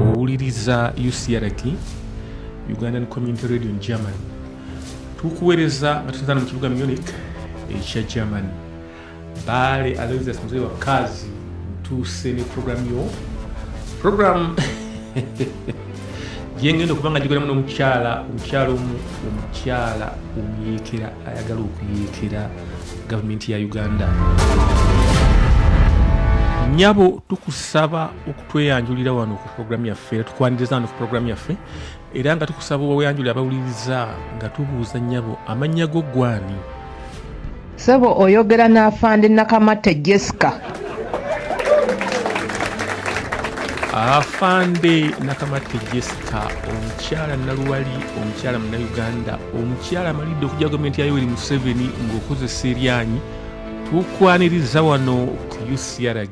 owuliriza ucrt ugandan community radio in germany tukuweereza nga tusinzana mu kibuga munich ekya germany Bale Aloysius mzee wa kazi, mtuuse ne program yo program gyengenda okuba nga gikolamu n'omukyala omukyala omu omukyala omuyeekera ayagala okuyeekera gavumenti ya uganda nyabo tukusaba okutweyanjulira wano ku programu yaffe era tukwaniriza wano ku programu yaffe era nga tukusaba oyanjule abawuliriza nga tubuuza nnyabo amannya go gwani sebo oyogera n'afande nakamatte jessica afande nakamatte jessica omukyala naluwali omukyala munauganda omukyala amalidde okujja gavumenti ya yoweri museveni ng'okozesa eryanyi tukwaniriza wano ku ucrg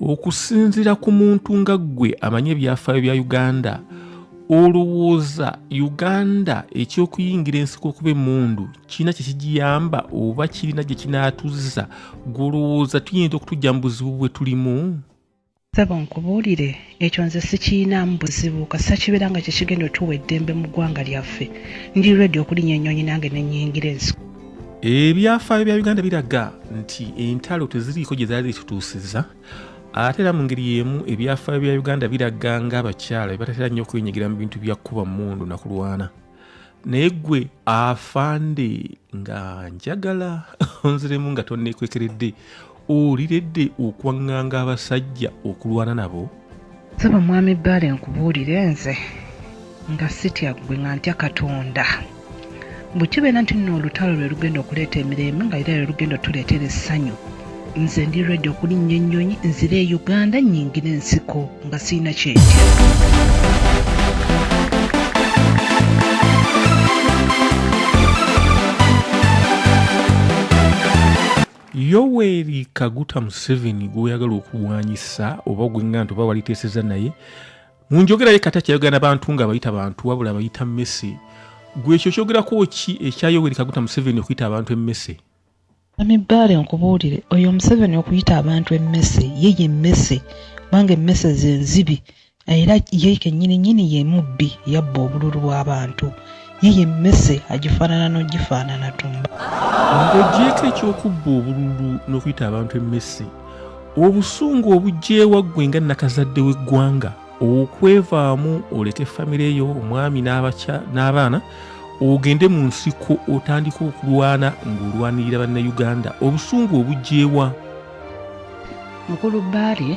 okusinzira ku muntu nga ggwe amanye ebyafaayo bya uganda olowooza uganda ekyokuyingira ensiko okuba emundu kirina kyekigiyamba oba kirina gye kinaatuzza gwolowooza tuyinza okutujja mu buzibu bwe tulimu sebo nkubuulire ekyo nze sikiinaamu buzibu kasita kibeera nga kyekigenda otuwa eddembe mu ggwanga lyaffe ndi redi okulinya ennyonyi nange nenyingira ensiko ebyafaayo bya uganda biraga nti entalo teziriiko gye zaali zitutuusiza ate era mu ngeri y'emu ebyafaayo bya uganda biraga nga abakyala bebatatera nnyo okwenyigira mu bintu bya kukuba mundu na kulwana naye gwe afande nga njagala onziremu nga tonekwekeredde oliredde okwaŋŋanga abasajja okulwana nabo saba mwami bbaale nkubuulire nze nga sitya ggwe nga ntya katonda bwe kibeera nti nno olutalo lwe lugenda okuleeta emirembe nga era lwe lugenda otuleetera essanyu nze ndi redi okulinnya ennyonyi nzire e uganda nyingire ensiko nga sirina kyentya yoweri kaguta museveni gwoyagala okulwanyisa oba gwenga nti oba waliteeseza naye munjogera ye kata kyayogera nabantu nga abayita bantu wabula abayita mmese gwe ekyo kyogerako ki ekya yoweri kaguta museveni okuyita abantu emmese amibaale nkubuulire oyo omuseveni okuyita abantu emmese ye ye mmese kubanga emmese zenzibi era ye kennyini nnyini ye mubbi yabba obululu bw'abantu ye ye mmese agifaanana n'ogifaanana tumba ng'ogyeko eky'okubba obululu n'okuyita abantu emmese obusungu obugyewa ggwe nga nakazadde w'eggwanga okwevaamu oleke famire yo omwami n'abaana ogende mu nsiko otandika okulwana ng'olwanirira bannayuganda obusungu obugyewa mukulu bbaale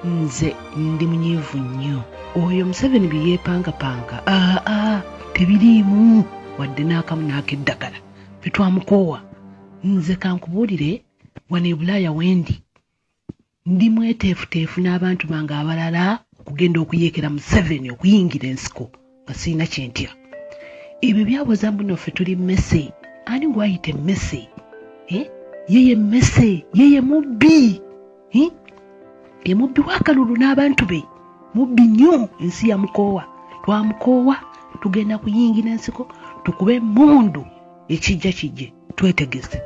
nze ndi munyiivu nnyo oyo museveni bye yeepangapanga aa ah, ah, tebiriimu wadde n'akamu n'akeddagala fe twamukoowa nze kankubuulire wano e bulaaya wendi ndi mweteefuteefu n'abantu bange abalala okugenda okuyeekera museveni okuyingira ensiko nga sirina kyentya ebyo byabuuza mbuno ffe tuli mmese ani gwayita emmese eh? yeye emmese yeye mubbi eh? ye mubbi wakalulu n'abantu be mubbi nnyo ensi yamukoowa twamukoowa tugenda kuyingira ensiko tukube emundu ekijja kijje twetegese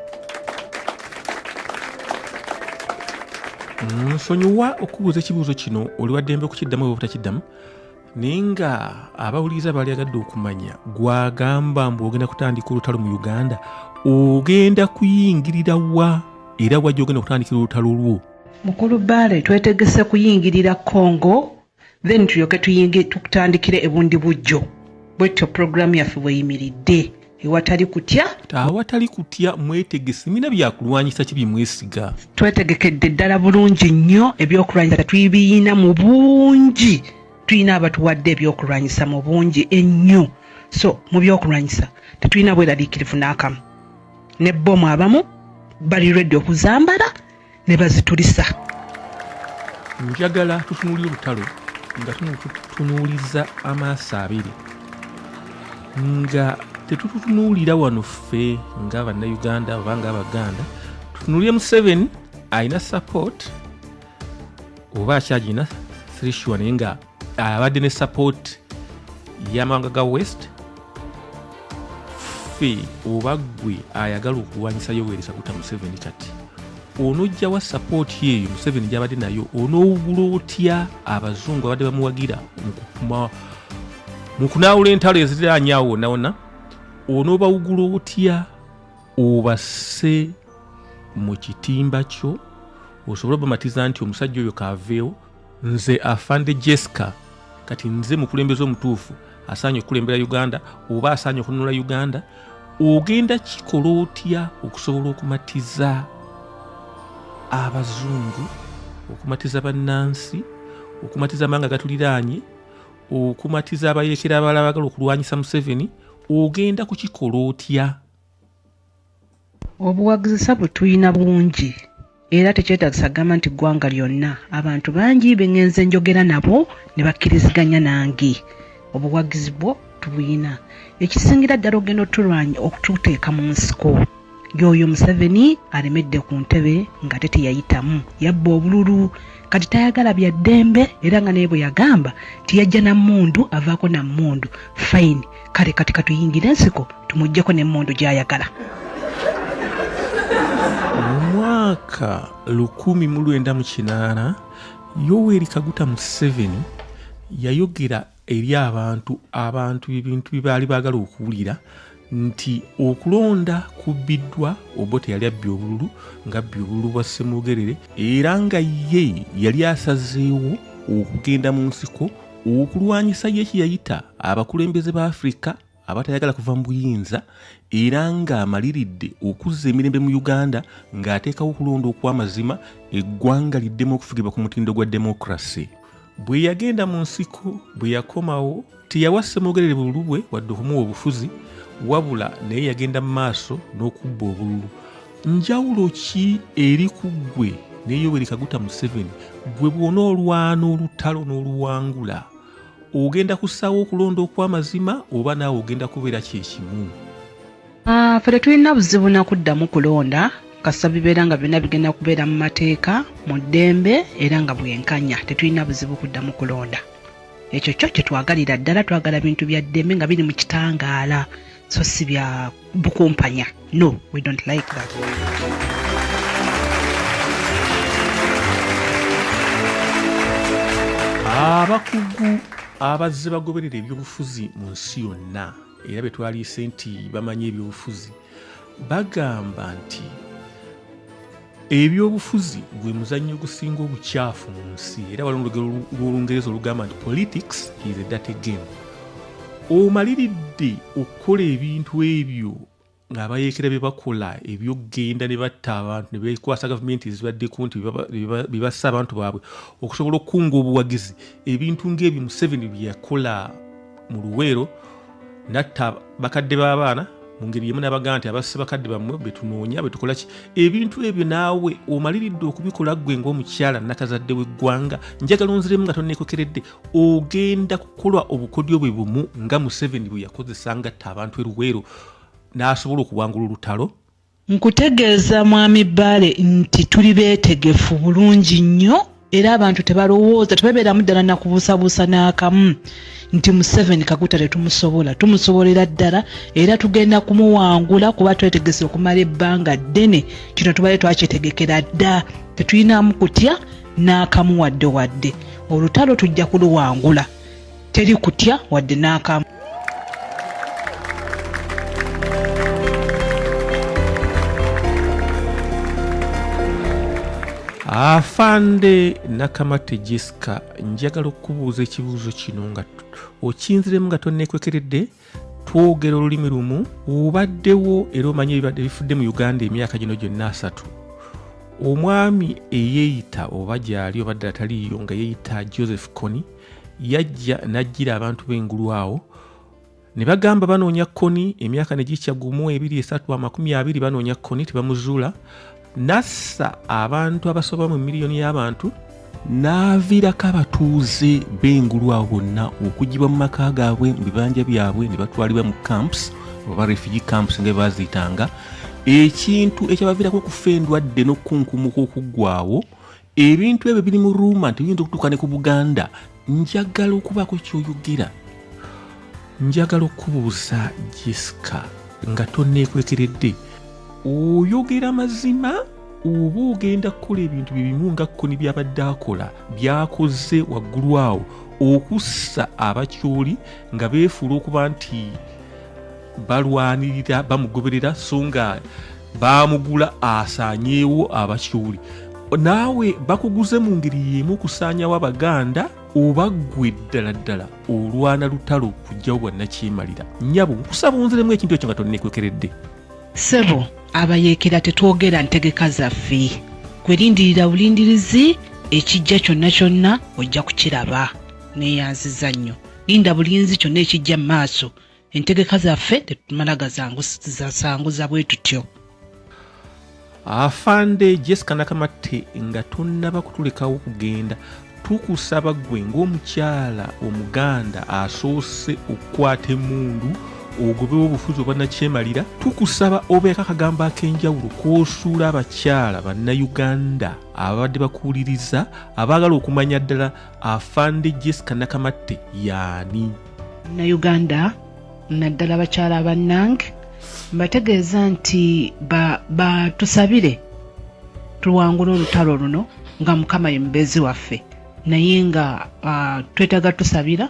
nsonyiwa okubuuza ekibuuzo kino oli waddembe okukiddamu oba obutakiddamu naye nga abawuliriza baali agadde okumanya gwagamba mbu ogenda kutandika olutalo mu uganda ogenda kuyingirira wa era wajja ogenda kutandikira olutalo lwo mukulu baale twetegese kuyingirira congo then tulyoke tuyinge tukutandikire ebundi bujjo bwetyo puroguramu yaffe bweyimiridde ewatali kutya awatali kutya mwetegese mina byakulwanyisa ki byemwesiga twetegekedde ddala bulungi nnyo ebyokulwanyisa tetuyibiyina mu bungi tulina abatuwadde ebyokulwanyisa mu bungi ennyo so mu byokulwanyisa tetulina bweraliikirivu n'akamu ne bbomu abamu bali redi okuzambala ne bazitulisa njagala tutunuulira olutalo nga tunuuliza amaaso abiri nga tetutunuulira wano ffe nga bannayuganda oba nga abaganda tutunuulire museveni alina support oba akyagina thrishua naye nga abadde ne support yamawanga ga west ffe oba gwe ayagala okulwanyisa yoweri kaguta museveni kati onojjawa support yeeyo museveni gyabadde nayo onowugula otya abazungu abadde bamuwagira mu kunaawula entalo eziriraanyawo wonawona onobawugula otya obase mu kitimba kyo osobole obamatiza nti omusajja oyo kaaveewo nze afande jesca kati nze mukulembeze omutuufu asaanye okukulembera uganda oba asaanye okununula uganda ogenda kikola otya okusobola okumatiza abazungu okumatiza bannansi okumatiza amawanga gatuliraanye okumatiza abayekera abala bagala okulwanyisa museveni ogenda kukikola otya obuwagzisa bwetuyina bungi era tekyetagisa kugamba nti ggwanga lyonna abantu bangi bengenze njogera nabo ne bakkiriziganya nange obuwagizi bwo tubuyina ekisingira ddala ogenda otulwanya okututeeka mu nsiko yoyo museveni alemedde ku ntebe nga te teyayitamu yabba obululu kati tayagala bya ddembe era nga naye bwe yagamba tiyajja na mmundu avaako na mmundu fayini kale kati katuyingire ensiko tumugyeko n'emmundu gy'ayagala mu mwaka 1998 yoweri kaguta museveni yayogera eri abantu abantu ebintu bye baali baagala okuwulira nti okulonda kubbiddwa obote yali abbye obululu nga abbye obululu bwa ssemwogerere era nga ye yali asazeewo okugenda mu nsiko okulwanyisa ye kye yayita abakulembeze ba afirika abatayagala kuva mu buyinza era ng'amaliridde okuzza emirembe mu uganda ng'ateekawo okulonda okw'amazima eggwanga liddemu okufugibwa ku mutindo gwa demokrasi bwe yagenda mu nsiko bwe yakomawo teyawa ssemogerere bululu bwe wadde okumuwa obufuzi wabula naye yagenda mu maaso n'okubba obululu njawulo ki eri ku ggwe ne yoweri kaguta museveni gwe bwona olwana olutalo n'oluwangula ogenda kusaawo okulonda okw'amazima oba naawe ogenda kubeera kyekimu ah, fe tetulina buzibu nakuddamu kulonda kasita bibeera nga byonna bigenda kubeera mu mateeka mu ddembe era nga bwenkanya tetulina buzibu kuddamu kulonda ekyo kyo kyetwagalira ddala twagala bintu bya ddembe nga biri mu kitangaala so si bya bukumpanya no we don't like that abakugu abazze bagoberera ebyobufuzi mu nsi yonna era be twaliise nti bamanyi ebyobufuzi bagamba nti ebyobufuzi gwe muzannyo ogusinga obukyafu mu nsi era waliwo olugero lw'olungereza olugamba nti politics is a dirty game omaliridde okukola ebintu ebyo ng'abayeekera bye bakola ebyokugenda ne batta abantu ne bekwasa gavumenti ezibaddeko nti bebassa abantu baabwe okusobola okukunga obuwagizi ebintu ng'ebyo museveni bye yakola mu luweero natta bakadde b'abaana mu ngeri emu nabagaa nti abasse bakadde bammwe betunoonya betukola ki ebintu ebyo naawe omaliridde okubikola ggwe ngaomukyala nakazadde w'eggwanga njagala onziremu nga tonekokeredde ogenda kukolwa obukodyo bwe bumu nga museveni bwe yakozesa ngatta abantu eruweero n'asobola okuwangula olutalo Nkutegeeza Mwami Bbaale nti tuli beetegefu bulungi nnyo era abantu tebalowooza tebabeeramu ddala nakubuusabuusa n'akamu nti Museveni Kaguta tetumusobola tumusobolera ddala era tugenda kumuwangula kuba twetegese okumala ebbanga ddene kino tubale twakyetegekera dda tetulinamu kutya n'akamu wadde wadde olutalo tujja kuluwangula Teri kutya wadde n'akamu. afande nakamate jessica njagala okubuuza ekibuuzo kino nga okinziremu nga tonekwekeredde twogera olulimi lumu obaddewo era omanyi ebibadde bifudde mu uganda emyaka gino gyonna asatu omwami eyeeyita oba gyali obadde ataliiyo nga yeeyita joseph coni yajja n'ajjira abantu b'engulu awo ne bagamba banoonya koni emyaka ne gikya gumu ebiri esatu amakumi abiri banoonya koni tebamuzuula n'assa abantu abasoba mu miliyoni y'abantu n'aviirako abatuuze b'engulu awo bonna okugibwa mu maka gaabwe mu bibanja byabwe ne batwalibwa mu camps oba refugee camps nga baziitanga ekintu ekyabaviirako okufa endwadde n'okukunkumuka okuggwawo ebintu ebyo biri mu ruuma nti biyinza okutuuka ne ku buganda njagala okubaako kyoyogera njagala okubuuza jessica nga tonneekwekeredde oyogera mazima oba ogenda kukola ebintu bye bimu nga kkoni byabadde akola byakoze waggulu awo okussa abakyoli nga beefuula okuba nti balwanirira bamugoberera so nga baamugula asaanyeewo abakiwuli naawe bakuguze mu ngeri y'emu okusaanyawo abaganda oba ggwe ddala ddala olwana lutalo kujjawo bwannakyemalira nyabo nkusaba onziremu ekintu ekyo nga tonneekwekeredde ssebo abayeekera tetwogera ntegeka zaffe gwe lindirira bulindirizi ekijja kyonna kyonna ojja kukiraba neeyanziza nnyo linda bulinzi kyonna ekijja mu maaso entegeka zaffe tetumala gasanguza bwe tutyo afande jessica nakamatte nga tonnaba kutulekawo kugenda tukusaba ggwe ng'omukyala omuganda asoose okukwata emundu ogobewo obufuzi obwanakyemalira tukusaba obeeko akagambo ak'enjawulo kwosuula abakyala bannayuganda ababadde bakuwuliriza abaagala okumanya ddala afande jessica nakamatte yaani munnayuganda naddala bakyala bannange mbategeeza nti batusabire ba tuwangule olutalo luno nga mukama ye mubeezi waffe naye nga uh, twetaaga tusabira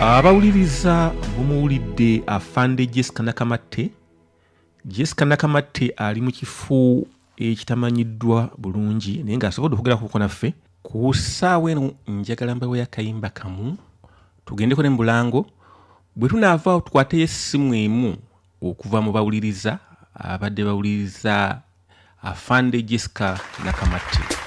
abawuliriza bumuwulidde afande jessica nakamatte jessica nakamatte ali mu kifo ekitamanyiddwa bulungi naye ng'asobodde okwogera kuko naffe ku ssaawa eno njagala mbawo yakayimba kamu tugendeko ne mubulango bwe tunaavaawo tukwateyo essimu emu okuva mu bawuliriza abadde bawuliriza afande jessica nakamatte